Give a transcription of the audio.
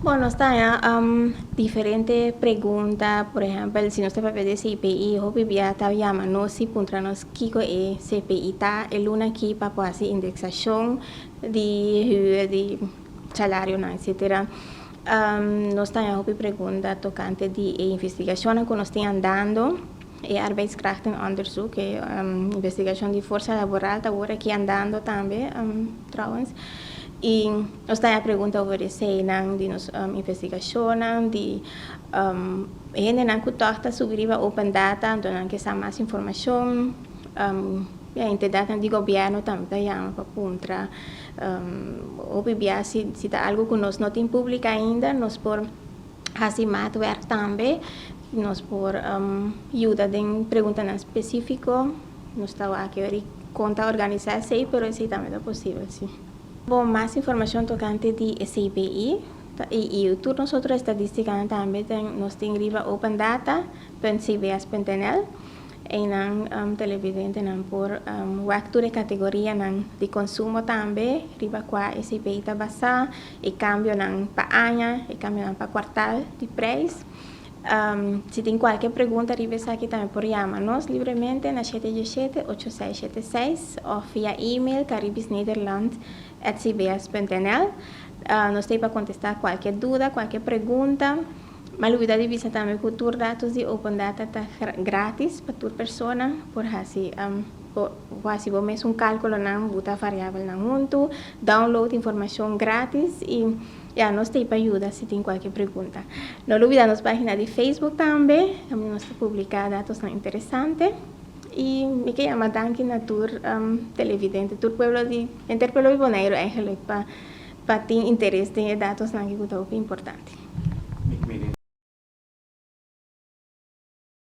Bon, nos ta haña diferente pregunta. Por ehèmpel, si nos ta papia di e CPI, hopi bia ta yama nos i puntra nos kiko e CPI ta. E luna akí pa por hasi indeksashon di hür, di salarionan, etsetera. Nos ta haña hopi pregunta tokante di e investigashonnan ku nos tin andando. E arbeidskrachtenonderzoek, e investigashon di forsa laboral ta wor aki andando tambe trouwens. I nos ta a pregunta over eseinan di nos investigashonnan di hendenan ku tòg ta subi riba open data anto nan ke sa mas informashon. E entidatnan di gobièrnu tambe ta yama pa puntra hopi bia si ta algu ku nos no tin públika ainda nos por. Hasi maatwerk tambe. Nos por yuda den preguntanan spesífiko. Nos ta wak yori kon ta organisá esei, pero esei tambe ta posibel sí. Bo mas informashon tokante di e CBI i tur nos otro estadístikanan tambe nos tin riba opendata punt cbs punt nl. Einan televidentenan por wak tur e kategorianan di konsumo tambe riba kua e CBI ta basá E cambionan pa aña, e cambionan pa cuartal di prijs. Si tin cualkier pregunta riba esaki tambe por yama nos libremente na shete diashete ocho seis shete seis of via email caribisnederland@cbs.nl. Nos ta ey pa contesta cualkier duda, cualkier pregunta. M'a lubida di bisa tambe cu tur datos di Open Data ta gratis pa tur persona por haci Bo por hasi bo mes un cálculonan, buta variabelnan huntu, download informacion gratis y ya nos ta ey pa yuda si tin cualkier pregunta. No lo bida nos página di Facebook tambe, tambe nos ta publica datosnan interesante. Y mi ke yama danki na tur televidente, tur pueblo di, henter pueblo di Bonaire eigenlijk pa pa tin interes den e datosnan aki cu ta hopi importante.